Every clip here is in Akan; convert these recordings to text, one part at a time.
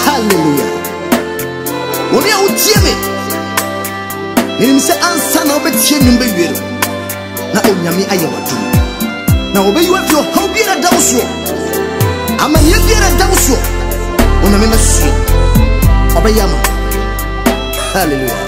Hallelujah. Wɔn a wotie me, menim sɛ ansa na wobɛtie nnwom bɛwie no, na Onyame ayɛ w'adom. Na wɔbɛyi wo afiri ɔhaw biara da wo soɔ, amanneɛ biara da wo soɔ, Onyame bɛsoɛ, ɔbɛyɛ ama wo. Hallelujah.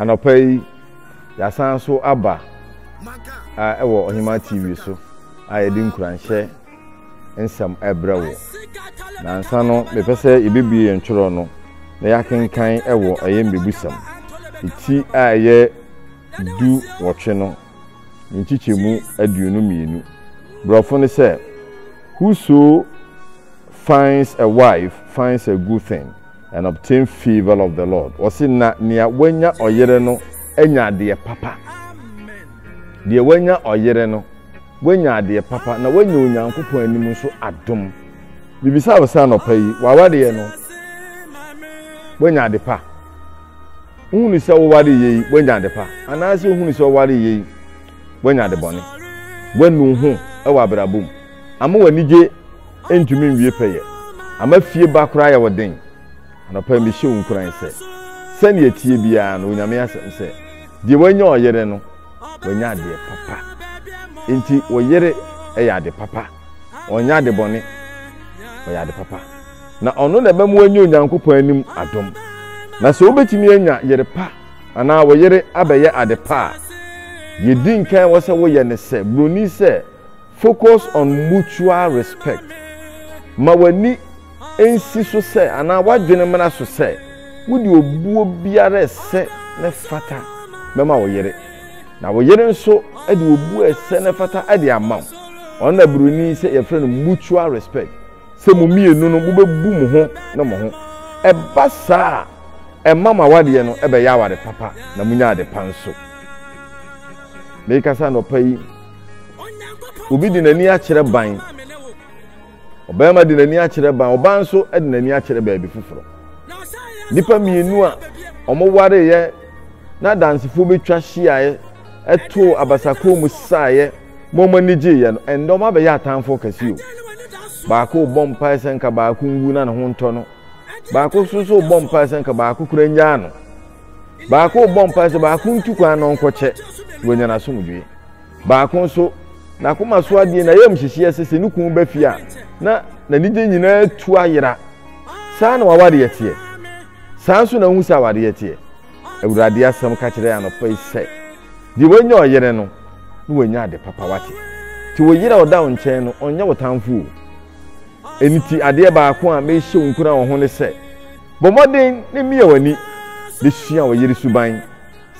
Anɔpa yi, yɛasan so aba ɛwɔ Ɔhemaa TV so a yɛde nkuranhyɛ nsɛm ɛbrɛ wo. Nansa no, mepɛ sɛ yɛbɛbie yɛn twerɛ no na yɛakenkan ɛwɔ ɛyɛ mmebusɛm. Eti a ɛyɛ du wɔtwe no, ne nkyekyɛmu aduonu mmienu. Borɔfo no sɛ, Whoso finds a wife finds a good thing, and obtain favour of the Lord. Ɔse na nea wanya ɔyere no anya adeɛ papa. Deɛ wanya ɔyere no, wanya adeɛ papa na wanya Onyankopɔn anim nso adom. Bibisa wo sɛ anɔpa yi, w'awadeɛ no, wanya ade pa? Wohunu sɛ woware yie yi, wanya ade pa? Anaasɛ wohunu sɛ woware yie yi, wanya ade bɔne? Wanu ho wɔ abrabɔ mu? Ama w'anigye ntumi nwie pɛyɛ. Ama fie ba koraa yɛ wo den. Anɔpa yi mehyɛ wo nkuran sɛ, sɛnea ɛteɛ biara no, Onyame asɛm sɛ, Deɛ wanya ɔyere no, wanya adeɛ papa. Enti wo yere yɛ ade papa. Ɔnyɛ ade bɔne. Ɔyɛ ade papa. Na ɔno na ɛbɛma wanya Onyankopɔn anim adom. Na sɛ wobɛtumi anya yere pa anaa wo yere abɛyɛ ade pa a, deɛ ɛdi nkan ɛwɔ sɛ woyɛ ne sɛ, buroni sɛ, Focus on mutual respect. Ma w'ani nsi so sɛ anaa w'adwene mmra so sɛ wode obuo biara a ɛsɛ na ɛfata bɛma wo yere, na wo yere nso de obuo a ɛsɛ na ɛfata de ama wo. Ɔno na Buroni sɛ yɛfrɛ no mutual respect, sɛ mo mmienu no mobɛbu mo ho ne mo ho. Ɛba saa a, ɛma mo awadeɛ no bɛyɛ aware papa na monya adepa nso. Merekasa anɔpa yi. Obi de n'ani akyerɛ ban. Ɔbarima de n'ani akyerɛ ban. Ɔbaa nso de n'ani akyerɛ baabi foforɔ. Nnipa mmienu a wɔwareeɛ na adansefoɔ bɛtwa hyiaeɛ ɛtoo abasakɔn mu saeɛ ma wɔn ani gyeeɛ no, ɛndɛ wɔn abɛyɛ atamfoɔ kɛseɛ o. Baako rebɔ mpae sɛ nka baako nwu na ne ho ntɔ no. Baako nso so rebɔ mpae sɛ nka baako kura nyaa no. Baako rebɔ mpae sɛ baako ntu kwan na ɔnkɔkyɛ, na wanya n'asomdwoe. Baako nso, n'akoma so adeɛ, n'ayamhyehyeɛ sɛ sɛ ne kunu ba fie a, na n'anigye nyinaa tu ayera. Saa na w'awadeɛ teɛ. Saa nso na wohu sɛ awadeɛ teɛ. Awurade asɛm ka kyerɛ anɔpa yi sɛ, deɛ wanya ɔyere no, na wanya ade papa wate. Te wo yere a ɔda wo nkyɛn no, ɔnyɛ wo tamfo o. Ɛno ti adeɛ baako a mehyɛ wo nkura wɔ ho ne sɛ, Bɔ mmɔden na mia w'ani de sua wo yere suban.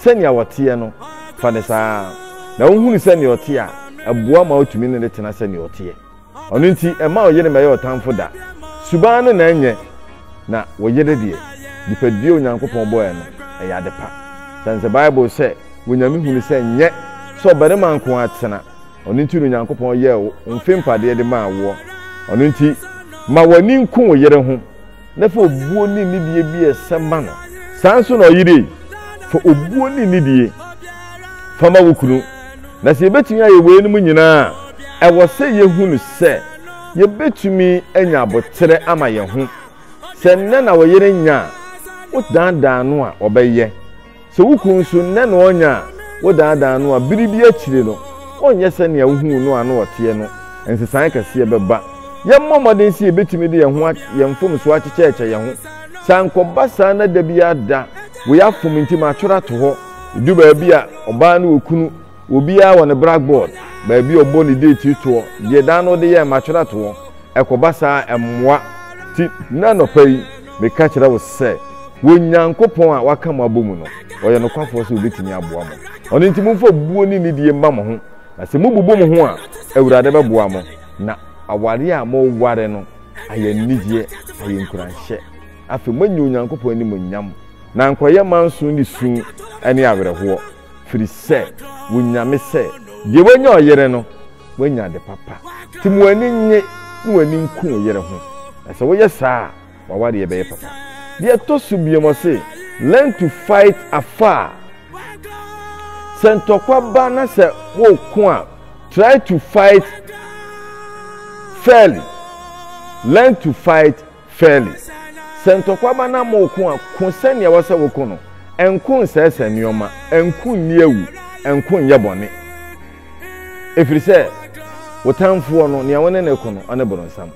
Sɛnea ɔteɛ no, fa no saa ara, na wohunu sɛnea ɔte a, ɛboa ma wotumi ne no tena sɛnea ɔteɛ. Ɔno nti, mma wo yere mmɛyɛ ɔtamfo da. Suban no na ɛnyɛ, na wo yere deɛ, nipadua a Onyankopɔn bɔe no, ɛyɛ ade pa. Sane sɛ Bible sɛ, Wɔ Nyame hu no sɛ nyɛ sɛ ɔbarima nko ara tena, ɔno nti na Onyankopɔn yɛɛ wo mfe mpadeɛ de maa woɔ. Ɔno nti, ma w'ani nku wo yere ho. na fa obuo ne nidie bi a ɛsɛ ma no. Saa nso na ɔyere ei, fa obuo ne nidie fa ma wo kunu. Na sɛ yɛbɛtumi ayɛ weinom nyinaa a, ɛwɔ sɛ yɛhunu sɛ yɛbɛtumi anya aboterɛ ama yɛn ho. Sɛ nnɛ na ɔyere nya a, wodaadaa no a, ɔbɛyɛ. Sɛ wo kunu nso nnɛ na ɔnya a, wodaadaa no a, bere bi akyiri no, ɔrenyɛ sɛnea wuhuu no a na ɔteɛ no. Nsesae kɛse bɛba. Yɛmmɔ mmɔden sɛ yebetumi de yɛn ho a yɛn mfomso akyekyɛ akyɛ yɛn ho. Sɛ ankɔba saa na da biara da wei afom nti matwɛr ato hɔ. Edu baabi a, ɔbaa ne okunu Obiara wɔ ne brackboard, baabi a ɔbɔ ne deeti toɔ, deɛ daa na ɔde yɛ matwerɛtoɔ. Ɛkɔba saa a, ɛmmoa. Nti, nnɛ anɔpa yi, meka kyerɛ wo sɛ, wɔ Nyankopɔn a waka mo abɔ mu no, ɔyɛ nokwafoɔ sɛ ɔbɛtumi aboa mo. Ɔno nti, momfa obuo ne nidie mma mo ho, na sɛ mobubu mo ho a, Awurade bɛboa mo, na awareɛ a moreware no ayɛ anigyeɛ, ayɛ nkuranhyɛ. Afei, moanya Onyankopɔn animuonyam, na ankɔyɛ manso ne su ne awerɛhoɔ. Firi sɛ wo Nyame sɛ, Deɛ wanya ɔyere no, wanya ade papa. Nti ma w'ani nnye na w'ani nku wo yere ho, na sɛ woyɛ saa a, w'awadeɛ bɛyɛ papa. Deɛ ɛtɔ so biom, ɔse, Learn to fight afar. Sɛ ntɔkwa ba na sɛ woreko a, try to fight fairly. Learn to fight. Fairly, Sɛ ntɔkwa ba na moreko a, ko sɛnea ɛwɔ sɛ woko no. Nko nsɛesɛe nneɛma, nko nni awu, nko nyɛ bɔne. Ɛfiri sɛ, wo tamfoɔ no, nea wo ne no reko no, ɔne boronsam.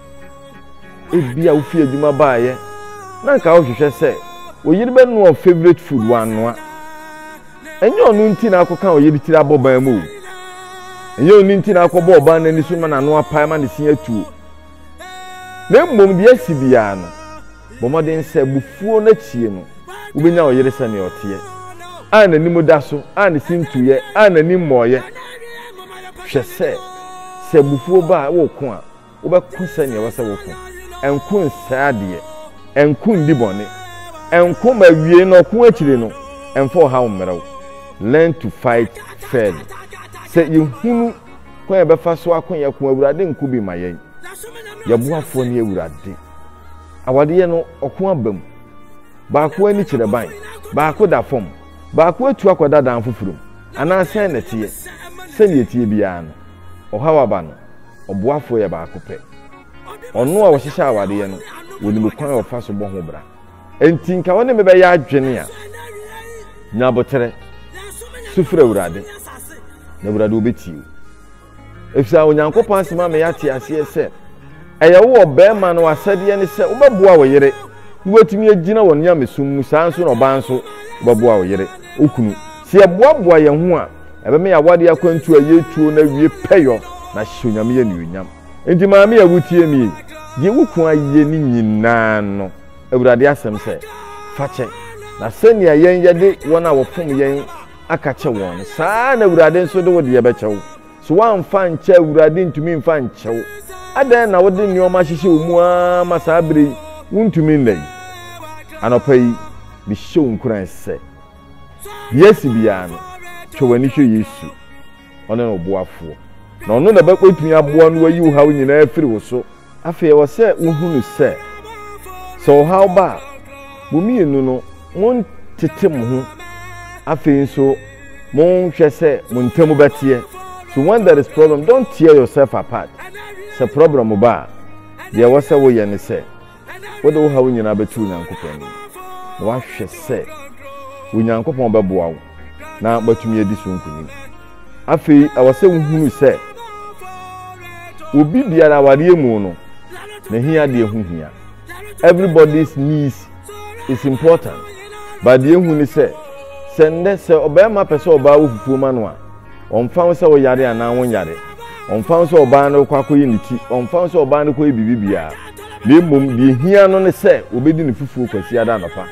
Ebia wofi adwuma baeɛ na anka wohwehwɛ sɛ wo yere bɛnoa wo favorite food, wannoa. Ɛnyɛ ɔno nti na akɔka wo yere tiri abɔ ban mu o. Ɛnyɛ ɔno nti na akɔbɔ ɔbaa no ani so ma n'ano apae ma ne se atuo. Na mmom deɛ asi biara no, bɔ mmɔden sɛ abufuo no akyie no, wobɛnya wo yere sɛdeɛ ɔteɛ, a n'anim da so, a ne sintɔ yɛ, a n'ani mmɔeɛ. Hwɛ sɛ, sɛ abufuo ba a, woreko a, wobɛko sɛdeɛ ɛwɔ sɛ woko. Ɛnko nsɛe adeɛ, ɛnko ndi bɔne, ɛnko ma awiei no ɔko akyiri no, ɛmfa ɔhaw mmrɛ wo. Learn to fight fairly. Sɛ yɛhunu. kwan a ɛbɛfa so ako yɛn ko awurade nko bi ma yɛn yɛboafoɔ ne awurade awadeɛ no ɔko aba mu baako ani kyerɛ ban baako da fam baako atu akɔda dan foforɔ mu anaa sɛn na ɛteɛ sɛdeɛ ɛteɛ biara no ɔhaw aba no ɔboafoɔ yɛ baako pɛ ɔno a ɔhyehyɛ awadeɛ no wɔnim kwan a ɔfa so bɔ ho bra Enti nka wo ne me bɛyɛ adwene a, nya aboterɛ, su frɛ Awurade, na Awurade ɔbɛtie wo. Efisɛ Onyankopɔn asɛm ama yɛate aseɛ sɛ, ɛyɛ wo wɔ barima no asɛdeɛ ne sɛ wobɛboa wo yere na woatumi agyina wɔ nyamesom mu, saa nso na ɔbaa nso wobɛboa wo yere, okunu. Sɛ yɛboaboa yɛn ho a, ɛbɛma yɛn awadeɛ akwantuo a yɛretuo no awie pɛyɔ na ahyɛ Onyame anuonyam. Enti maame a wutie me yi, deɛ wo kunu ayɛ ne nyinaa no, Awurade asɛm sɛ, fa kyɛ. Na sɛnea yɛn yɛde wɔn a wɔfom yɛn aka kyɛ wɔn no, saa ara na Awurade nso de wo deɛ bɛkyɛ wo. So woamfa ankyɛ a, Awurade ntumi mfa nkyɛ wo? Adɛn na wode nneɛma ahyehyɛ wo mu ara ma saa bere yi, wuntumi nna yi? Anɔpa yi, mehyɛ wo nkuran sɛ, deɛ asi biara no, twe w'ani hwɛ Yesu. Ɔne wo boafoɔ, na Ɔno na ɔbɛtumi aboa na wayi wo haw nyinaa afiri wo so. Afei ɛwɔ sɛ wohunu sɛ, sɛ ɔhaw ba a, mo mmienu no, montete mo ho. Afei nso, monhwɛ sɛ mo ntam bɛteɛ. So when there is problem, don't tear yourself apart. Sɛ problem ba a, deɛ ɛwɔ sɛ woyɛ ne sɛ. wode wo haw nyinaa bɛto Onyankopɔn anim na woahwɛ sɛ Onyankopɔn bɛboa wo na woatumi adi so nkonim. Afei ɛwɔ sɛ wohunu sɛ obi biara awareɛ mu no n'ahiadeɛ ho hia. Everybody's needs is important. But deɛ ehu ne sɛ sɛ nnɛ sɛ ɔbarima pɛ sɛ ɔbaa wɔ fufuo ma no a Ɔmfa ho sɛ woyare anaa wonyare, ɔmfa ho sɛ ɔbaa no rekɔ akɔyi ne ti, ɔmfa ho sɛ ɔbaa no kɔyi biribi biara, na mmom deɛ ehia no ne sɛ obedi ne fufuo Kwasiada anɔpa.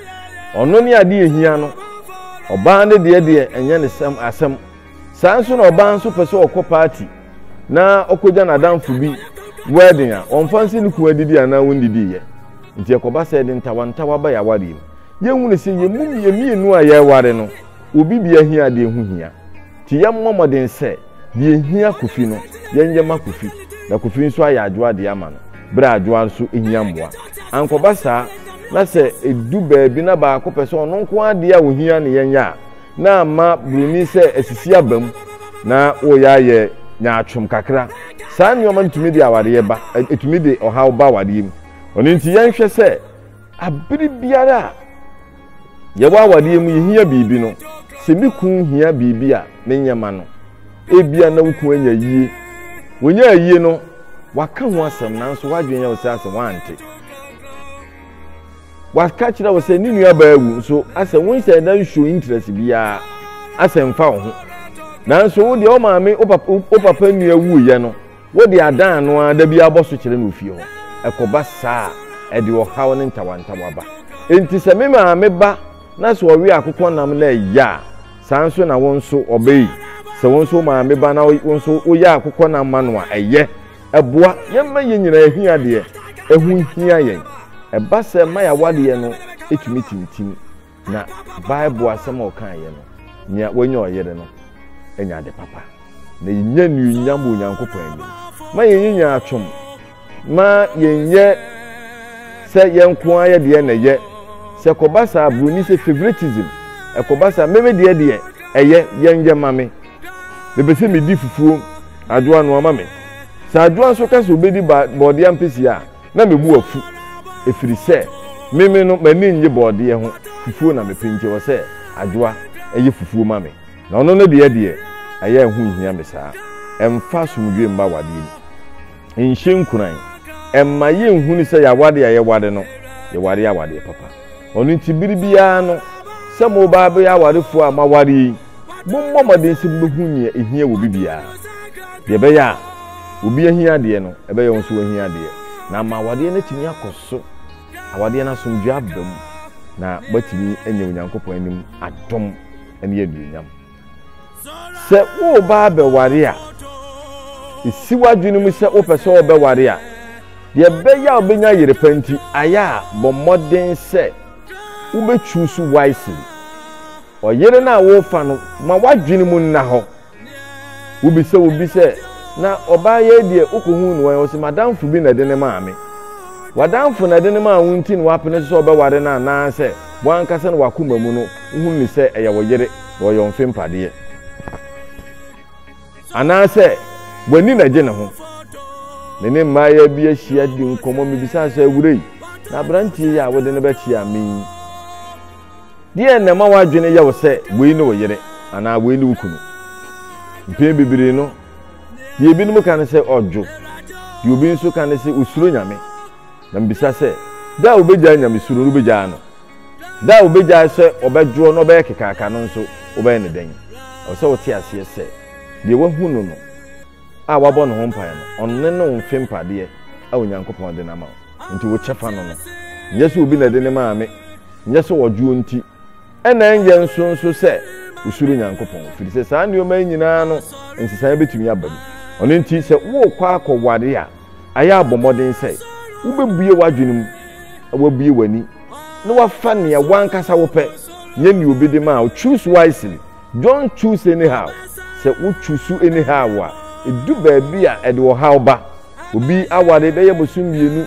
Ɔno ne adeɛ ehia no. Ɔbaa no deɛ deɛ ɛnyɛ ne sɛm asɛm. Saa nso na ɔbaa nso pɛ sɛ ɔkɔ paati na ɔkɔgya n'adamfo bi wɛden a, ɔmfa nse ne kunu adidi anaa wonnidi yɛ. Nti ɛkɔba sɛ ɛde ntawantawa ba yɛn awareɛ mu. Yɛnhunu sɛ yɛn mu mmienu a yɛreware no, Obi bi ahiadeɛ ho hia nti yɛmmɔ mmɔden sɛ deɛ ɛhia Kofi no yɛnyɛ ma Kofi na Kofi nso ayɛ Adwoa deɛ ama no berɛ a Adwoa nso hia mmoa. Ankɔba saa na sɛ ɛdu baabi na baako pɛ sɛ ɔno nko ara deɛ a ɔhia na yɛnyɛ a, na ama buroni sɛ asisi aba mu na wɔreyɛ ayɛ nyaatwom kakra. Saa nneɛma no tumi de awareɛ ba, ɛtumi de ɔhaw ba awareɛ mu. Ɛno nti yɛnhwɛ sɛ bere biara a Yɛwɔ awadeɛ mu yɛhia biribi no, sɛ me kun hia biribi a menyɛ ma no. Ebia na wo kun anya ayie. Wɔnyaa ayie no, waka ho asɛm nanso w'adwene yɛ wo sɛ asɛ woante. Waka kyerɛ wo sɛ ne nuabaa awu nso asɛ wonhyɛ da nsuo interest biara asɛ mfa wo ho. Nanso wo deɛ wo maame wo papa nua wuiɛ no Wode adan ano ara da biara bɔ so kyerɛ no ofie hɔ. Ɛkɔba saa a, ɛde ɔhaw ne ntawantawa ba. Enti sɛ me maame ba na sɛ ɔwe akokɔnam na ɛyɛ a, saa ara nso na wo nso ɔba yi, sɛ wo nso wo maame ba na wo nso woyɛ akokɔnam ma no a, ɛyɛ. Ɛboa. Yɛmma yɛn nyinaa hia deɛ ɛho hia yɛn. Ɛba sɛ mma yɛn awadeɛ no tumi tintim. Na Bible asɛm a ɔkaeɛ no, Nea wanya ɔyere no anya ade papa, na yɛnya nnuonyam wɔ Onyankopɔn anim. Ma yɛnyi nyaatwom, ma yɛnyɛ sɛ yɛn nko ara yɛ deɛ na ɛyɛ. Sɛ ɛkɔba saa a, Buroni sɛ favoritism, ɛkɔba saa a, me me deɛ deɛ ɛyɛ, yɛnyɛ ma me. Mepɛ sɛ medi fufuo, Adwoa noa ma me. Sɛ Adwoa nso ka sɛ ɔbɛdi bɔɔdeɛ ampesie a, na me bo afu ɛfiri sɛ me me no m'ani nnye bɔɔdeɛ ho fufuo na mepɛ nti ɛwɔ sɛ Adwoa yɛ fufuo ma me na ɔno ne deɛ deɛ ɛyɛ ɛho nhia me saa ɛmfa asomdwoe mma awadeɛ mu nhyɛ nkuran ɛmma yɛnhunu sɛ yɛawade a yɛware no yɛware awadeɛ papa. Ɔno nti bere biara no, sɛ moreba abɛyɛ awarefo a moaware yi, mommɔ mmɔden sɛ mubehu nea ehia wɔ obi biara, nea ɛbɛyɛ a obi ahia adeɛ no, ɛbɛyɛ wo nso woahia adeɛ, na ama awadeɛ no atumi akɔ so, awadeɛ no asomdwoe aba mu, na moatumi anya Onyankopɔn anim adom ne anuonyam. Sɛ woreba abɛware a, si w'adwene mu sɛ wopɛ sɛ wɔbɛware a, deɛ ɛbɛyɛ a wobɛnya yere pa nti, ayɛ a bɔ mmɔden sɛ wobɛtwiw so wisely. Ɔyere no a worefa no, ma w'adwene mu nna hɔ. Wobisa wo bi sɛ, na ɔbaa yɛi deɛ wokɔhuu no wɔn? Ɔse, m'adamfo bi na ɛde ne maa me. W'adamfo na ɛde no maa wo nti na woapene so sɛ wobɛware no anaasɛ wo ankasa na w'akoma mu no Wohu no sɛ ɛyɛ wo yere na ɔyɛ ɔmfe mpadeɛ. Anaasɛ w'ani na ɛgye ne ho. Me ne mmaayaa bi ahyia di nkɔmmɔ, mebisaa sɛ, Awura yi, na aberanteɛ yi a wode no bɛkyea me yi, deɛn na ɛma w'adwene yɛ wo sɛ wei ne wo yere anaa wei ne wo kunu? Mpɛn bebree no, deɛ ebinom ka ne sɛ ɔdwo, deɛ obi nso ka ne sɛ ɔsuro Nyame. Na mebisa sɛ, Da a wobɛgyaa Nyamesuro no, wobɛgyaa no? Da a wobegyae sɛ wɔbɛdwoɔ na wɔbɛyɛ kekaaka no nso, wobɛyɛ no dɛn? Ɛwɔ sɛ wote aseɛ sɛ, deɛ woahu no no a woabɔ ne ho mpaeɛ no, ɔno ne ne wo mfe mpadeɛ a Onyankopɔn de no ama wo. Enti wo kyɛfa no no, nyɛ sɛ obi na ɛde ne maa me, nyɛ sɛ ɔdwoɔ nti, ɛna ɛnyɛ nso nso sɛ wosuro Onyankopɔn, ɛfiri sɛ saa nneɛma yi nyinaa no nsesaeɛ bɛtumi aba mu. Ɔno nti, sɛ worekɔ akɔware a, Ayɛ a bɔ mmɔden sɛ wubebue w'adwene mu na woabue w'ani na woafa nea w'ankasa wopɛ, nyɛ nea obi de ma wo. Choose wisely, don't choose anyhow. Sɛ wo chusu anyhow a, edu baabi a ɛde ɔhaw ba. Obi aware bɛyɛ bosom mmienu,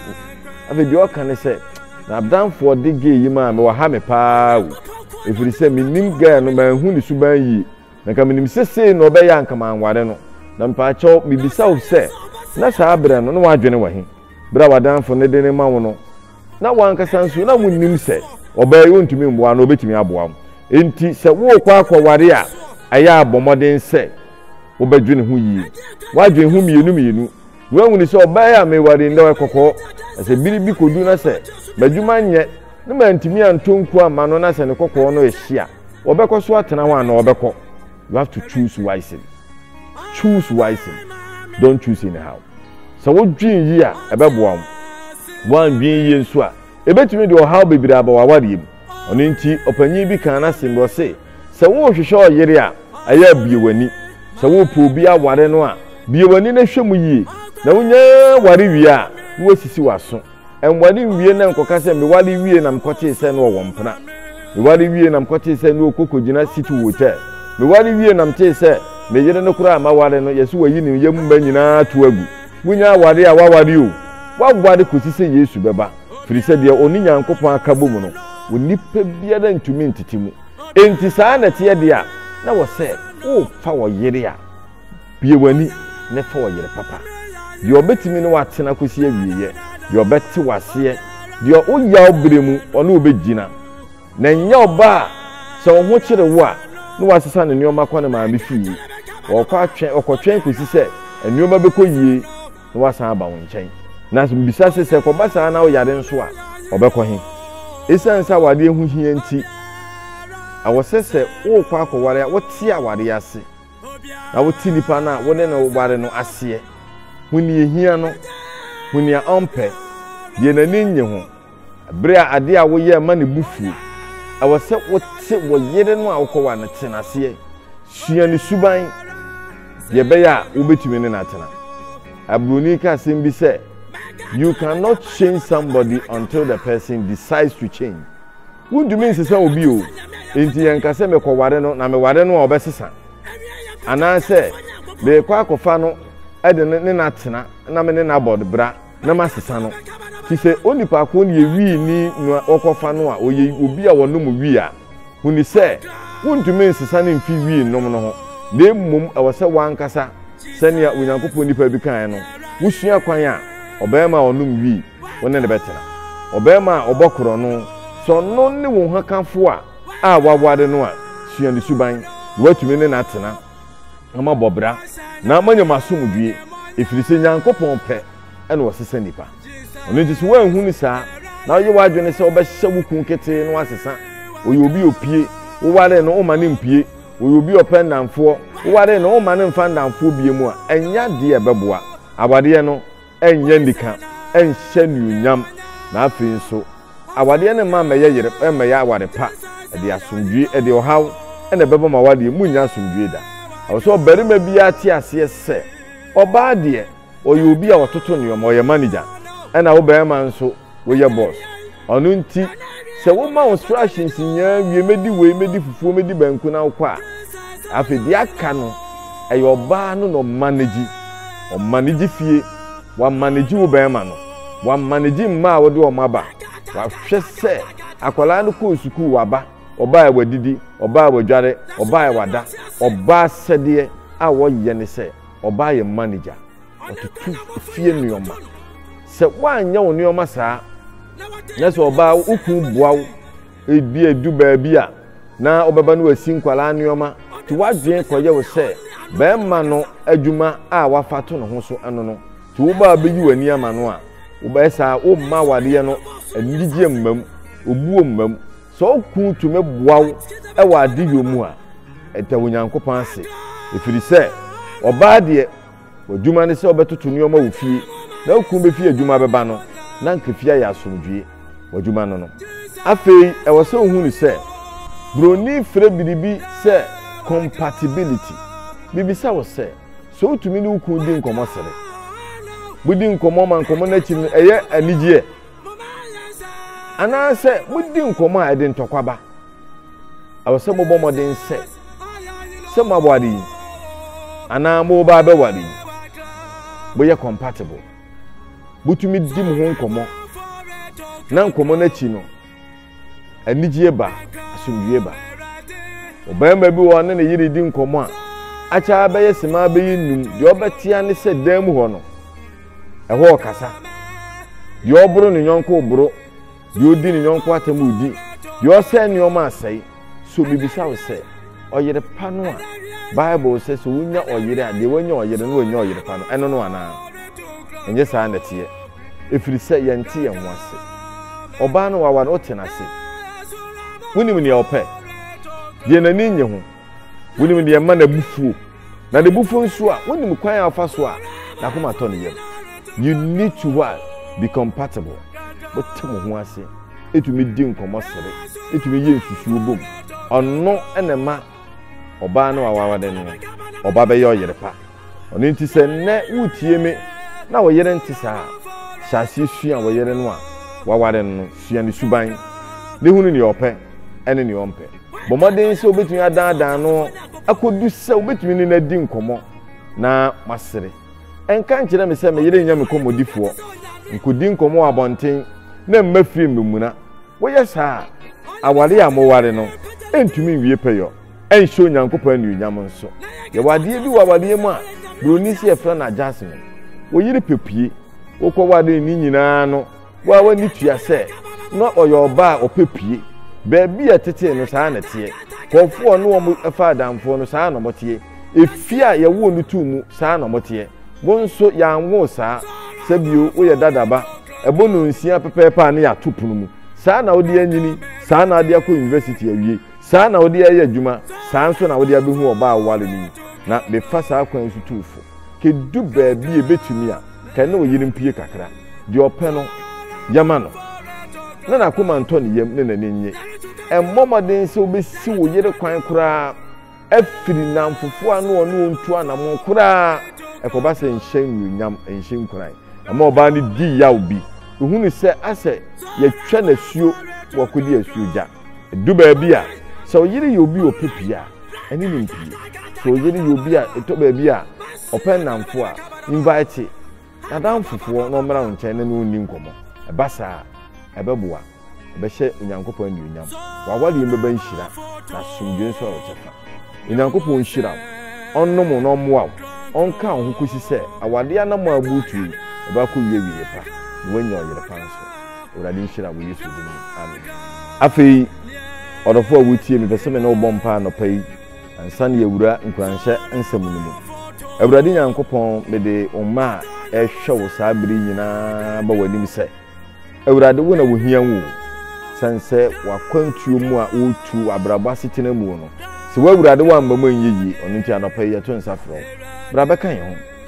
afei deɛ ɔka ne sɛ, M'adamfoɔ de gay yi maa me, waha me paa o, ɛfiri sɛ mennim guy no, manhu ne suban yie. Na nka menim sɛ sei na ɔbɛyɛ a nka manware no. Na mpaakyɛw mebisa wo sɛ, na saa berɛ no na w'adwene wɔ he? Berɛ a w'adamfo no de no rema wo no, na w'ankasa nso na wonnim sɛ ɔbaa yi ontumi mmoa anaa ɔbɛtumi aboa wo? Enti sɛ worekɔ akɔware a, ɛyɛ a bɔ mmɔden sɛ wobɛdwene ho yie. W'adwene ho mmienu mmienu. Woahunu sɛ ɔbaa yi a meware yi, na ɔyɛ kɔkɔɔ, na sɛ bere bi kodu na sɛ m'adwuma nyɛ, na mantumi antɔ nkuo amma no, na sɛ ne kɔkɔɔ no rehye a, ɔbɛkɔ so atena hɔ anaa ɔbɛkɔ? You have to choose wisely. Choose wisely. Don't choose anyhow. Sɛ wodwen yie a, ɛbɛboa wo. Woandwen yie nso a, ɛbɛtumi de ɔhaw bebree aba w'awareɛ mu. Ɔno nti, ɔpanyin bi kaa n'asɛm bi, ɔse, Sɛ worehwehwɛ ɔyere a, ɛyɛ a bue w'ani. Sɛ worepɛ obi aware no a, bue w'ani na hwɛ mu yie. Na wunya ware wie a, na woasisi w'aso. Ɛnware nwie na nkɔka sɛ, 'Meware wiei na mekɔtee sɛ na ɔwɔ mpena. Meware wiei na mekɔtee sɛ na ɔkɔ kɔgyina City Hotel. Meware wiei na metee sɛ me yere no koraa a maware no, yɛse wayi ne yam mma nyinaa ato agu. Wonyaa ware a, woaware o. Woaware kɔsi sɛ Yesu bɛba. firi sɛ deɛ ɔne Nyankopɔn aka bom no, onipa biara ntumi ntete mu. Enti saa na ɛteɛ deɛ a, na wɔ sɛ worefa ɔyere a, bue w'ani na fa ɔyere papa, deɛ ɔbɛtumi ne wo atena kɔsi awieɛ, deɛ ɔbɛte wo aseɛ, deɛ wo yaw berɛ mu ɔne wo bɛgyina, na ɛnyɛ ɔbaa a sɛ wo ho kyere wo a, na wasesa ne nneɛma kɔ ne maame fie, ɔrekɔ atwɛn, ɔkɔtwɛn kɔsi sɛ nneɛma bɛkɔ yie. na wasan aba wo nkyɛn. Na sɛ mibisa se, sɛ ɛkɔba saa na woyare nso a, ɔbɛkɔ he? Esiane sɛ awareɛ ho hia nti, ɛwɔ sɛ sɛ worekɔ akɔware a, wote awareɛ ase, na wote nipa no a wo ne no ware no aseɛ. Hu nea ehia no. Hu nea ɔmpɛ, deɛ n'ani nnye ho. Bere a ade a woyɛ ma ne bo fuw, ɛwɔ sɛ wote wo yere no a wokɔware no tena aseɛ sua ne suban deɛ ɛbɛyɛ a wobɛtumi ne no atena. Aburoni ka asɛm bi sɛ, You cannot change somebody until the person decides to change. Wontumi nsesa obi o, enti yɛnka sɛ mekɔware no na meware no a ɔbɛsesa. Anaasɛ merekɔ akɔfa no de ne no atena na me ne no abɔ bra. na masesa no nti sɛ onipa ko no yɛ wii ni na wɔkɔfa no a ɔyɛ obi a wɔnom wii a, hu no sɛ wontumi nsesa no mfi wii nom no ho na mmom ɛwɔ sɛ w'ankasa, sɛnea Onyankopɔn nipa bi kaeɛ no, wosua kwan a ɔbarima a ɔnom wii wo ne no bɛtena. Ɔbarima a ɔbɔ korɔno, sɛ ɔno ne wo hokafo a a woaware no a, sua ne suban na woatumi ne no atena. na moabɔ bra, na moanya mo asomdwoe, ɛfiri sɛ Nyankopɔn pɛ na ɔsesa nnipa. Ɛno nti sɛ woanhu no saa, na woyɛ w'adwene sɛ wobɛhyɛ wo kunu ketee no asesa, ɔyɛ obi a ɔpue, wowaree no, womma no mpue, ɔyɛ obi a ɔpɛ nnamfoɔ, wowaree no, womma no mfa nnamfoɔ bie mu a, ɛnyɛ adeɛ a ɛbɛboa awareɛ no. ɛnyɛ anika, ɛnhyɛ anuonyam, na afei nso, awadeɛ no mma mmɛyɛ yere, ɛmmɛyɛ aware pa. Ɛde asomdwoeɛ, ɛde ɔhaw na ɛbɛba mo awadeɛ mu, morennya asomdwoeɛ da. Ɛwɔ sɛ ɔbarima biara te aseɛ sɛ, ɔbaa deɛ, ɔyɛ obi a ɔtoto nneɛma, ɔyɛ manager, ɛnna wo barima nso, Woyɛ boss. Ɔno nti sɛ woma wo strations nyinaa wie, mɛdi wei, mɛdi fufuo, mɛdi banku na wokɔ a, afei deɛ aka no, ɛyɛ ɔbaa no na ɔmanage. Ɔmanage fie, wamanage wo bɛrima no, wamanage mma a wode wɔn aba, wahwɛ sɛ akwadaa no kɔɔ sukuu, waba, ɔbaa a wadidi, ɔbaa a wadware, ɔbaa a wada. Ɔbaa sɛdeɛ a wɔyɛ ne sɛ ɔbaa yɛ manager. wɔtoto fie nneɛma. Sɛ woanyɛ wo nneɛma saa na sɛ ɔbaa wo kun boa wo ebi edu baabi a na wobɛba no asi nkwadaa nneɛma nti w'adwene kɔyɛ wo sɛ bɛrima no adwuma a wafa to ne ho so ɛno no nti wobaa bɛyi w'ani ama no a wobɛyɛ saa womma awadeɛ no anigyeɛ mmam obuo mmam sɛ ɔku tumi boa wo wɔ adeyɔ mu a ɛda onyankopɔn ase ɛfiri sɛ ɔbaa deɛ W'adwuma ne sɛ wobɛtoto nneɛma wɔ fie, na wo kunu befi adwuma bɛba no, na anka fie ayɛ asomdwoe. W'adwuma no no. Afei ɛwɔ sɛ wuhu no sɛ Buroni frɛ biribi sɛ compatibility. Mibisa wo sɛ, so wutumi ne wo kunu di nkɔmmɔ sere? Mudi nkɔmmɔ ma nkɔmmɔ no akyi no ɛyɛ anigyeɛ? Anaasɛ mudi nkɔmmɔ a ɛde ntɔkwa ba? ɛwɔ sɛ mobɔ mmɔden sɛ sɛ moaware yi anaa moba abɛware yi moyɛ compatible motumi di mo ho nkɔmmɔ na nkɔmmɔ no akyi no anigyeɛ ba asomdwie ba ɔbarima bi wɔ ne ne yere di nkɔmmɔ a akyɛ bɛyɛ sema bɛyɛ nnum deɛ ɔbɛtea ne sɛ dan mu hɔ no ɛhɔ ɔkasa deɛ ɔboro ne yɔnko boro Deɛ ɔdi ne yɔnko atɛm ɔdi, deɛ ɔsɛe nneɛma asɛe. So mebisa wo sɛ, ɔyere pa no a Bible sɛ sɛ wonya ɔyere a deɛ wanya ɔyere no wanya ɔyere pa no, ɛno no anaa? Ɛnyɛ saa na ɛteɛ. Ɛfiri sɛ yɛnte yɛn ho ase. Ɔbaa no wawa no wote no ase. Wonim nea ɔpɛ, deɛ n'ani nnye ho. Wonim deɛ ɛma n'abufuo, na n'abufuo nso a, wonim kwan a ɔfa so a n'akoma tɔ ne yam. You need to what? Be compatible. Wote mo ho ase, ɛtumi di nkɔmmɔ sere, ɛtumi yɛ nsusuo bom. Ɔno na ɛma ɔbaa no a wawade no, ɔba bɛyɛ ɔyere pa. Ɔno nti sɛ nnɛ wotie me na wo yere nte saa a, hyɛ aseɛ sua wo yere no a waware no, sua ne suban, ne hunu deɛ ɔpɛ ne deɛ ɔmpɛ. Bɔ mmɔden sɛ wobɛtumi adaadaa no akɔdu sɛ wobɛtumi ne no adi nkɔmmɔ na moasere. Ɛnka nkyerɛ me sɛ me yere nyɛ me kɔmmɔdifoɔ. Nkɔdi nkɔmmɔ wɔ abɔnten na mma fie mmɛmuna. Woyɛ saa a, aware a moware no rentumi nwie pɛyɔ, ɛrenhyɛ Onyankopɔn anuonyam nso. Yɛwɔ adeɛ bi wɔ awareɛ mu a Buroni se yɛfrɛ no adjustment. Wo yere pɛ pue. Wokɔwaree ne nyinaa no, Wo a w'ani tua sɛ na ɔyɛ ɔbaa a ɔpɛ pue. Baabi a ɛtetee no saa na ɛteɛ. Nkurɔfoɔ a ɔne wɔn fa adamfoɔ no saa na wɔteɛ. Efie a yɛwoo no too mu saa na wɔteɛ. Wo nso yɛanwo wo saa. Sɛ bio, woyɛ dadaba. Ɛbɔ nnɔnsia pɛpɛɛpɛ a na yɛato pono mu. Saa na wode anyini, saa na wode akɔ yunivɛsiti awie, saa na wode ayɛ adwuma, saa nso na wode abɛhu ɔbaa a woware no yi. Na mefa saa kwan yi so tu wo fo. Kɛdu baabi a ɛbɛtumi a. Pɛ ne wo yere mpue kakra. Deɛ ɔpɛ no, yɛ ma no, na n'akoma ntɔ ne yam na n'ani nnye. Mmɔ mmɔden sɛ wobɛsi wo yere kwan koraa afiri nnamfofoɔ ano ɔne wɔn ntu anammɔn koraa. Ɛkɔba sɛ nhyɛ anuonyam, ɛnhyɛ nkuran. Ɛma ɔbaa no di yaw bi. Ɔhunu sɛ asɛ yɛatwa no asuo, wakɔdi asuogya. Edu baabi a, sɛ ɔyere yɛ obi a ɔpɛ pii a, ɛne no mpie. Sɛ ɔyere yɛ obi a ɛtɔ baabi a ɔpɛ nnamfo a, invite n'adamfofoɔ na ɔmmra wo nkyɛn na ne wo nni nkɔmmɔ. Ɛba saa a, ɛbɛboa. Ɛbɛhyɛ Onyankopɔn anuonyam. W'awadeɛ mu bɛba nhyira, na asomdwoeɛ nso ayɛ wo kyɛfa. Onyankopɔn nhyira wo, ɔnnom wo na ɔmmoa wo, ɔnka wo ho kɔsi sɛ awadeɛ anammɔn a woretu yi, ɛbɛakɔwie awieeɛ pa, na woanya ɔyere pa nso. Awurade nhyira wo Yesu din mu. Amen. Afei ɔdɔfo a wotie me pɛ sɛ me ne wobɔ mpa anɔpa yi ansa ne awura nkuranhyɛ nsɛm no mu. Awurade Nyankopɔn mede wo mma a ɛhwɛ wo saa bere nyinaa ba w'anim sɛ Awurade wo na wohia wo sɛn sɛ wakwantuo mu a wotu wɔ abrabɔ asetena mu no sɛ w'awurade wamma mu ɛnyɛ yie ɔno nti anɔpa yi yɛto nsa frɛ wo bra bɛka yɛn ho